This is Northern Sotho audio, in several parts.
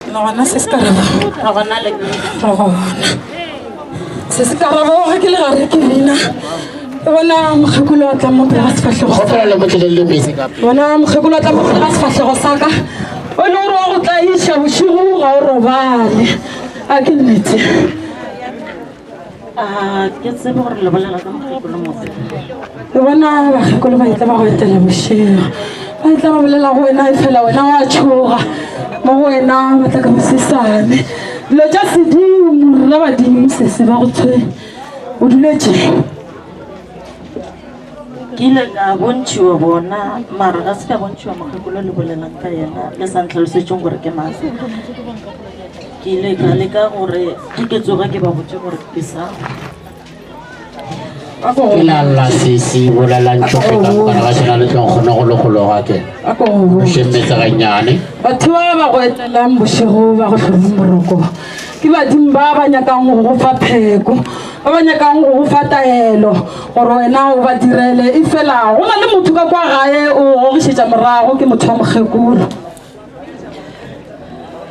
Re gona se se ka rego. Re gona le nna. Re gona. Se se ka rego ga ke le gare ke bina. Bona mokgekolo a tla mo pela sefahlego sa ka. Bona mokgekolo a tla mo pela sefahlego sa ka. O ne o re wa go tla iša bošigo ga o robale. A ke nnete. ke tsebe gore le bolela ka mokgekolo motse ke bona bakgekolo ba itla ba go etela bošego ba itla ba bolela go wena e fela wena wa tšhoga mo go wena ba tla ka bosesane dilo tša sedimo rra badimo sese ba go tshwe o duletše ke ile ka bontšhiwa bona mara ga se ka bontšhiwa mokgekolo le bolelang ka yena le sa ntlhalosetšeng gore ke mang ke ile ka leka gore ke tsoge ke ba botse gore ke sa ke na lla sesi bolelang tšhogo ka bokana ga sena le tlong kgone go legologa ke šemetse gannyane batho ba ba go etlelang bošego ba go tlhomeng boroko ke badimo ba ba nyakang go go fa pheko ba ba nyakang go go fa taelo gore wena o ba direle e fela go na le motho ka kwa gae o gogišetša morago ke motho wa mokgekolo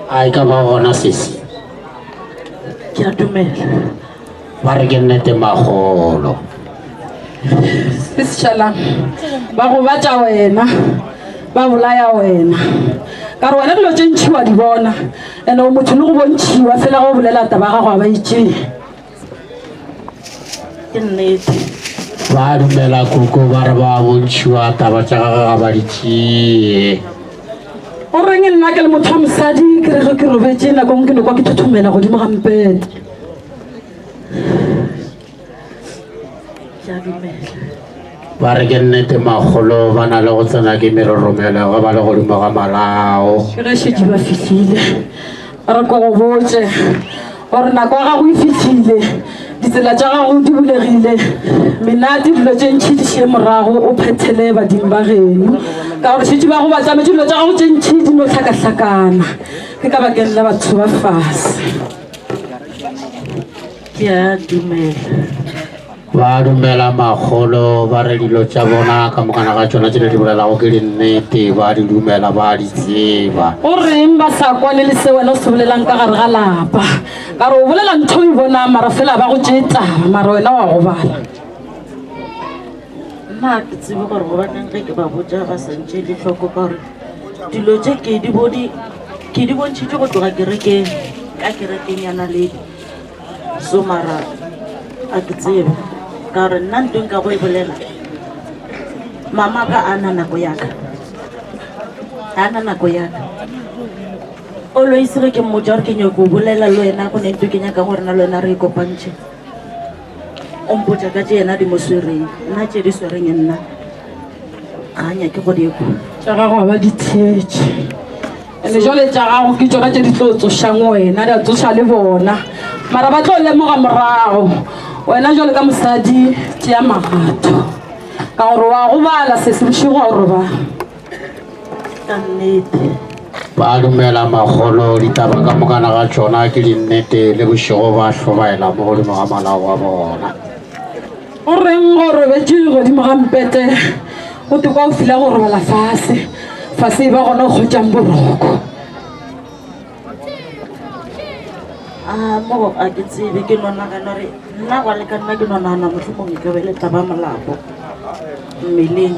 a e ka ba gona sese ke a dumela ba re ke nnete magolo se setšhalang ba gobatša wena ba bolaya wena ka re wena dilo tše ntšhi wa di bona and-e o motho le go bontšhiwa fela go bolela taba ya gago a ba itšee ke nnete ba dumela koko ba re ba bontšhiwa taba tša gage ga ba di tšee o reng nna ke le motho wa mosadi ke re ge ke robetse nako ngwe ke nokwa ke thothomela godimo ga mpete ke a dumela Ba re ke nnete makgolo ba na le go tsena ke meroromelo ge ba le godimo ga malao. Ke ge šetše ba fihlile. A re ko go botše gore nako ya gago e fihlile, ditsela tša gago di bulegile, menate dilo tše ntšhi di šie morago o phethele badimo ba geno ka gore šetše ba go batlametše dilo tša gago tše ntšhi di no hlakahlakana ke ka bakeng la batho ba fase. Ke a dumela. Ba dumela makgolo ba re dilo tša bona ka mokana ga tšona tšele di bolelago ke dinnete, ba di dumela ba di tseba. O reng ba sa kwane le se wena o se bolelang ka gare ga lapa? Ka re o bolela ntho o e bonang mara fela ba go tšee taba mara wena wa gobala. Nna ke tsebe gore gobaneng ge ke ba botša ba sa ntšee le hloko ka gore dilo tše ke di bone ke di bontšhitše go tloga kerekeng ka kerekeng ya naledi. So mara a ke tsebe ka gore nna nto nka go e bolela mama ka a na nako yaka a na nako yaka oloisege ke mmotsa gore ke nyako bolela le wena go ne nto ke nyaka gore na le wena re e kopantšhe o mpotsa ka tse yena di mo swereng nna tse di swereng nna ga nyake go di ekwa tša gago ga ba di theetše ene jale tša gago ke tsona tše di tlo tsošang wena di a tsoša le bona mara ba tlo lemoga morago wena jale ka mosadi tšea magato ka gore wa go bala se se bošego wa gore ba ka nnete ba dumela magolo ditaba ka mokana ga tsona ke dinnete le bošego ba hlobaela mo godimo ga malao wa bona O reng o robetše godimo ga mpete go te kwa o fila go robala fase fase e ba gona o kgwetšang boroko? a mo a ke tsebe ke no nagana gore nna gwa le ka nna ke no nagana motlhomong e ka be le taba molapo mmeleng